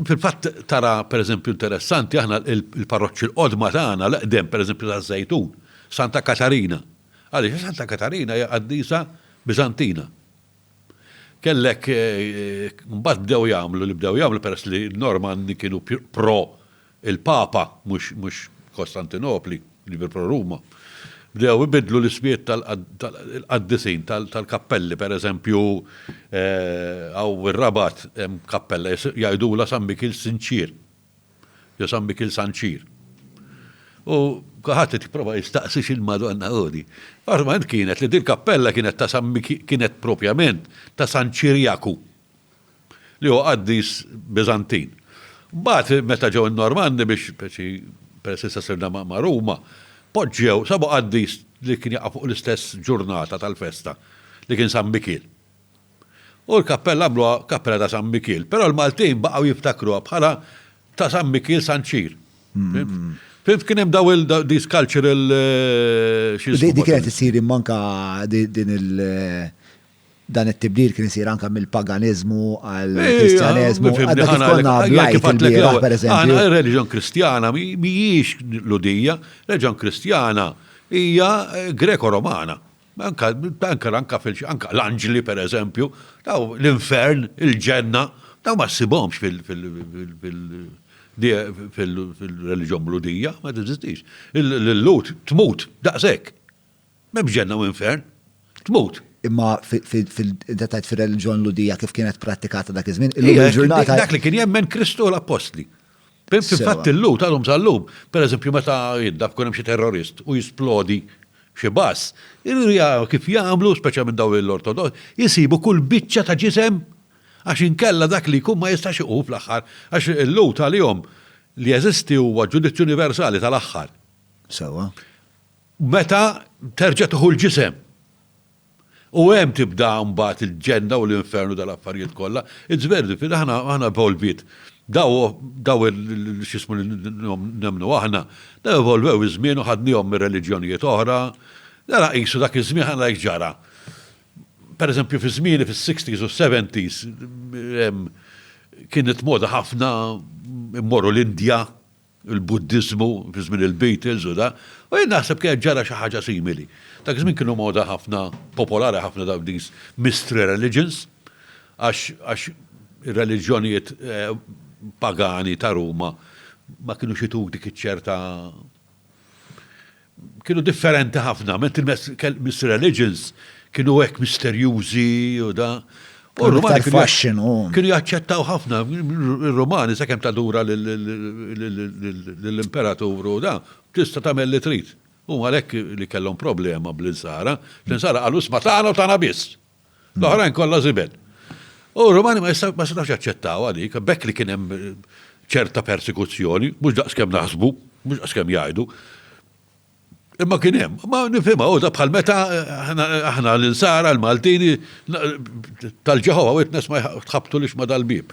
Fil-fatt tara pereżempju interessanti aħna il-parroċċi l-qodma tagħna l-qdem pereżempju ta' Żejtun, Santa Katarina. Għaliex Santa Katarina hija qaddisa Biżantina. Kellek eh, mbagħad bdew jagħmlu li bdew jagħmlu peress li Normandi kienu pro il-Papa, mhux Kostantinopli, jiġifieri pro-Ruma, bdew ibiddlu l-ismijiet tal-qaddisin tal-kappelli, pereżempju, hawn fir-Rabat hemm kappella jgħidulha San Mikil Sinċier jew San Mikil Sanċir. U kulħadd qed jipprova jistaqsi x'il-Madonna hu din. Ormai kienet li dil-kappella kienet ta' San Mikil kienet propjament ta' San Ċirjaku, li huwa qaddis Biżantin. Mbagħad meta ġew in-Normanni biex peress issa sirna ma' Ruma, poġġew, sabu qaddis li kien jaqa' fuq l-istess ġurnata tal-festa li kien San Mikiel. U l-kappella għamluha kappella ta' San Mikiel, però l-Maltin baqgħu jiftakruha bħala ta' San Mikiel San Ċir. Fimt? Fimt kien hemm daw il these cultural xi jismu. Dik kienet issir imma anke din il- Dan it-tibdil kien isir anke mill-paganiżmu għal kristjaneżmu. Għadda kif konna blajt il-bieraħ pereżempju. Reliġjon Kristjana mhijiex Ludija, reliġjon Kristjana hija Greko-Romana. Anka anka anka l-anġli pereżempju, daw l-infern, il-ġenna, daw ma ssibhomx fil fil-reliġjon Ludija, ma teżistix. Il-Lut tmut daqshekk. M'hemmx ġenna u infern. Tmut. Imma inti tgħid fir-reliġjon Lhudija kif kienet prattikata dak iż-żmien, illum il-ġurnata. Dak li kien jemmen Kristu u l-Appostli. Fil-fatt illum tal-lum tal-lum, pereżempju meta jidda tkun hemm xi terrorist u jisplodi xi bass, kif jagħmlu, speċjalment dawn l-Ortodoss, isibu kull biċċa ta' ġisem għax inkella dak li jkun ma jistax iqum fl-aħħar għax il-lhud għalihom li jeżisti huwa ġudizzju universali tal-aħħar. Sewwa. Meta terġa' tieħu l-ġisem. U hemm tibda mbagħad il-ġenna u l-infernu tal-affarijiet kollha. It's very difficult, aħna aħna evolviet. Daw daw x'ismu li nemmnu aħna, daw evolvew iż-żmien u ħadniehom minn reliġjonijiet oħra. Ara qisu dak iż-żmien ħa nara x'ġara. Pereżempju fi żmieni fis-sixties u s-seventies kienet moda ħafna mmorru l-Indja, il-Buddiżmu fi żmien il-Beatles u da, u jien naħseb kienet ġara xi ħaġa simili. Dak iż-żmien kienu moda ħafna, popolari ħafna dawk these mystery religions, għax għax ir-reliġjonijiet pagani ta' Ruma ma kinux itug dik iċ-ċerta kienu differenti ħafna, ment il-mess kell Miss Religions kienu hekk misterjużi u da. U Kienu r-Rumani iktar kienu jaċ- fashion u. kienu jaċċettaw ħafna ir-Rumani sakemm tadura lill-imperatur u da, tista' tagħmel li trid. Huma għalhekk li kellhom problema bl-insara, l-insara qalu isma' tagħna u tagħna biss. L-oħrajn kollha żibel. U r-Romani ma jistax jaċċettaw għalik, bekk li kien hemm ċerta persekuzzjoni, mhux daqskemm naħsbu, mhux daqskemm jgħidu. Imma kien hemm, ma nifhimha uża bħal meta aħna l-insara l-Maltini tal-Ġeħova witness ma tħabtu lix ma dal-bib.